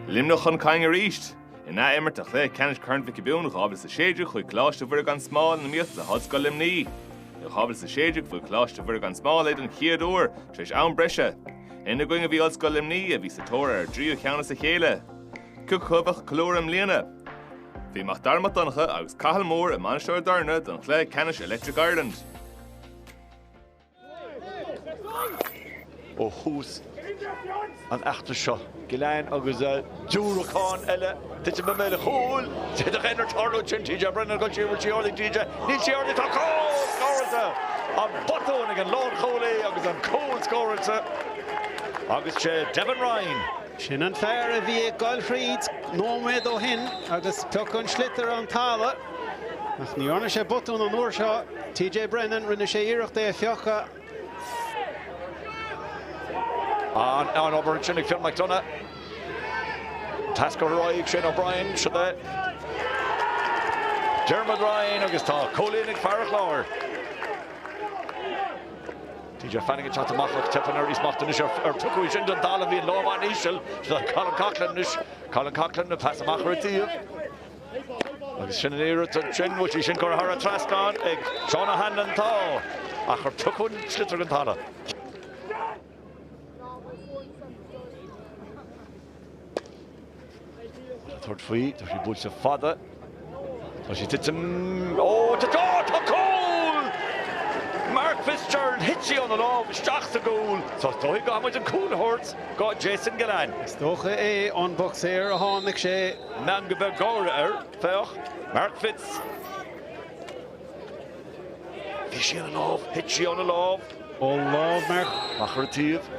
Luimneach chun cinn arís! In ath-imirt de chluiche ceannais Corn Mhic Giobúin 2016 chuaigh Coláiste Mhuire Gan Smál in iomaíocht le hOllscoil Luimnigh. I 2016 bhuaigh Coláiste Mhuire Gan Smál é don chéad uair tar éis am breise. Ina gcoinne a bhí Ollscoil Luimnigh a bhí sa tóir ar a dtríú ceann as a chéile. Cé acu a bhuafadh an ghlóir i mbliana? Bhí Mac Dara Mac Donncha agus Cathal Mór i Mainistir Ó dTorna don chluiche ceannais Electric Ireland. Ó thús an fheachtais seo. Gillane agus diúracán eile tite i mbéal an chúil. D'fhéadfadh aon rud tarlú ansin. TJ Brennan ag dul siar an bhfuil sí thar líne TJ. Níl sí thar líne tá cúl scóráilte. An botún ag an lánchúlaí agus an cúl scóráilte agus 'sé Devon Ryan. Sin an fear a bhí ag goil thríd nóiméad ó shin agus piocadh an sliotar den talamh. Ach ní dhearna sé botún an uair seo. TJ Brennan, rinne sé iarracht é a phiocadh. An obair ansin ag Fionn McDonagh. Pas curtha ar aghaidh Shane O'Brien, siad é. Diarmuid Ryan agus tá cúilín ag fear an Chláir. PJ Fanning ag teacht amach ach tipeann ar ais é smacht an ois ar piocadh é sin den talamh bhí an lámh an-íseal Colin Coughlan anois. Colin Coughlan, pas amach ar an taobh agus sin an iarracht ansin, an bhfuil sí sin curtha thar an trasnán ag Seán O'Hanlon tá ach ar piocadh an sliotar den talamh. Ag tabhairt faoi, tá sí buailte fada, tá sí ag titim, ó tá cúl, tá cúl! Mark Fitzgerald, thit sí óna lámh isteach sa gcúl, is dóigh go gcaithfidh muid an cúl a thabhairt do Jason Gillane. Is dócha ón mbosca ar a tháinig sé. Meangadh beag gáire air, féach, Mark Fitz. Bhí sí óna lámh, thit sí óna lámh. Ó lámh Mark. Amach ar an taobh.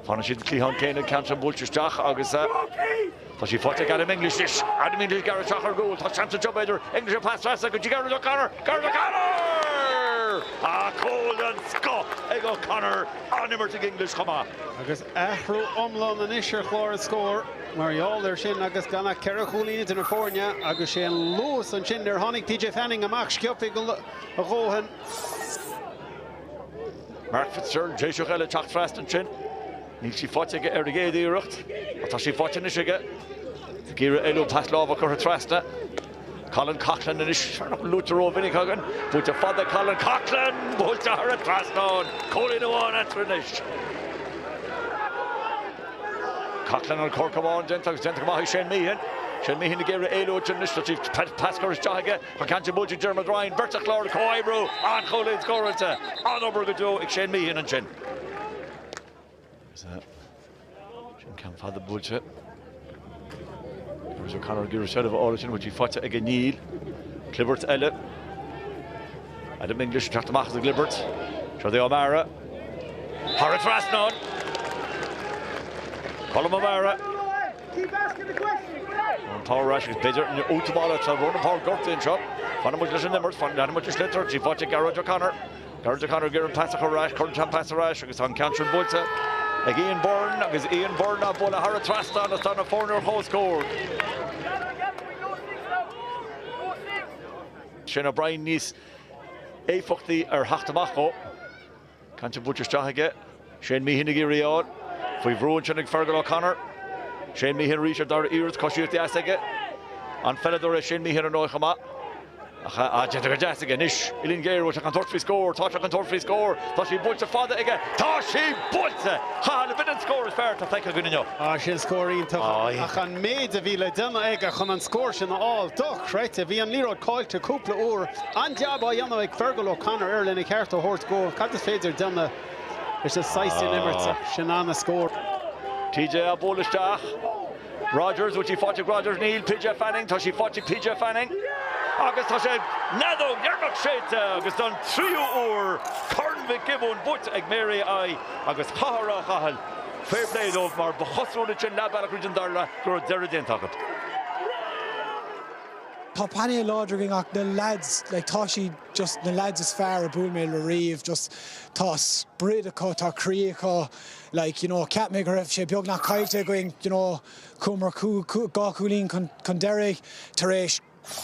Fanann siad cliathán céanna ag an gCeantabhrach buailte isteach agus tá sí faighte ag Adam English anois. Adam English, ag dul isteach ar an gcúl. Tá seans anseo b'fhéidir. English ag pas trasna go dtí Gearóid O'Connor. Gearóid O'Connor! Tá cúl den scoth ag O'Connor. An-imirt ag English chomh maith. Agus athrú iomlán anois ar chlár an scóir mar gheall air sin agus gan ach ceithre chúilín idir na foirne agus 'sé an luas ansin ar tháinig PJ Fanning amach. Sciobtha a dhóthain. Mark Fitzgerald, Déiseach eile ag teacht trasna ansin. Níl sí faighte aige ar an gcéad iarracht ach tá sí faighte anois aige. Ag iarraidh éalú pas láimhe curtha trasna. Colin Coughlan anois, luaite rómhinic againn. Buailte fada Colin Coughlan, buailte thar an trasnán. Cúilín amháin eatarthu anois. Coughlan an poc amach déanta agus déanta go maith ag Shane Meehan. Shane Meehan ag iarraidh éalú ansin anois, tá sí pas curtha isteach aige. Tá an ceann sin buailte ag Diarmuid Ryan, beirt an Chláir ag comhoibriú, an cúilín scóráilte, an-obair go deo ag Shane Meehan ansin. Is é sin ceann fada buailte. Gearóid O'Connor ag iarraidh seilbh a fháil ansin, bhfuil sí faighte aige? Níl. Clibirt eile. Adam English ag teacht amach as an gclibirt. Siod é O'Meara. Thar an trasnán! Colm O'Meara. Keep asking the question! An pas ar ais agus b'fhéidir an útamáil tá Ronan Power gortaithe anseo. Fanann muid leis an imirt, fanann muid leis an sliotar, tá sí faighte Gearóid O'Connor. Gearóid O'Connor ag iarraidh an pas a chur ar ais, cuireann sé an pas ar ais agus tá an ceann sin buailte ag Ian Byrne agus Ian Byrne á bualadh thar an trasnán agus tá na foirne ar comhscór. Sin obair níos éifeachtaí ar theacht amach dhó. Ceann sin buailte isteach aige. Shane Meehan ag iarraidh í a fháil faoi bhrú ansin ag Fergal O'Connor. Shane Meehan arís ar an dara iarracht. Coisíocht dheas aige. An-pheileadóir é Shane Meehan ar ndóigh chomh maith. Ach déanta go deas aige anois. Uillinn ghéar, bhfuil sé chun tabhairt faoi scór. Tá sé chun tabhairt faoi scór. Tá sí buailte fada aige. Tá sí buailte! Chathail, b'fhéidir an scór is fearr atá feicthe againn inniu. Tá sin scór iontach ach an méid a bhí le déanamh aige chun an scór sin a fháil. Dochreidte. Bhí an liathróid caillte cúpla uair. An-jab á dhéanamh ag Fergal O'Connor air lena cheart a thabhairt dhó. Cad is féidir déanamh leis an saghas sin imeartha? Sin an-scór. TJ á bualadh isteach. Rogers, bhfuil sí faighte ag Rogers? Níl. PJ Fanning, tá sí faighte ag PJ Fanning. Agus tá sé, an fheadóg dheireanach séidte agus don tríú uair Corn Mhic Giobúin buaite ag Mary I agus chaithfeá a rá Chathail, fair play dóibh mar ba chosúil ansin leath bealach thríd an dara leath go raibh deireadh déanta acu. Tá painéal láidir againn ach na leaids, like tá siad just na leaids is fearr a bhuail mé le riamh. Just tá sprid acu, tá croí acu. Like, you know, cheap mé go raibh sé beagnach caillte againn, you know, chuamar dhá chúilín chun deiridh tar éis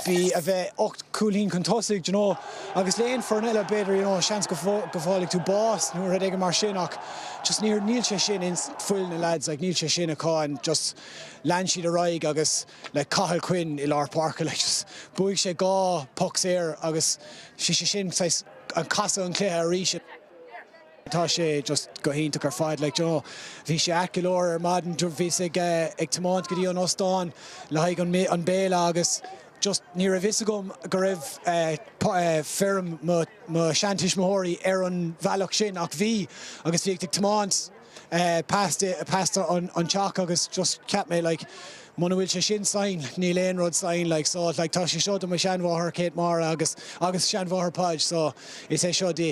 bhí a bheith ocht chúilín chun tosaigh, you know. Agus le aon foireann eile b'fhéidir, you know, seans go bhfaighidh tú bás nó rud éigin mar sin ach just níor, níl sé sin in fuil na leaids, like níl sé sin acu and just lean siad ar aghaidh agus. like Cathal Quinn i lár páirce leis. Bhuaigh sé dhá poc saor agus sé sé sin saghas an casadh an cluiche arís. Tá sé just go hiontach ar fad like d'you know. Bhí sé ait go leor ar maidin bhíos ag ag tiomáint go dtí an óstán le haghaidh an an béile agus just ní raibh fhios agam go raibh feirm mo mo sheantuismitheoirí ar an bhealach sin ach bhí agus bhíos ag tiomáint past past an teach agus just cheap mé like muna bhfuil sé sin sign níl aon rud sign like so like tá sé seo do mo sheanmháthair Kate Máire agus agus seanmháthair Podge so is é seo di.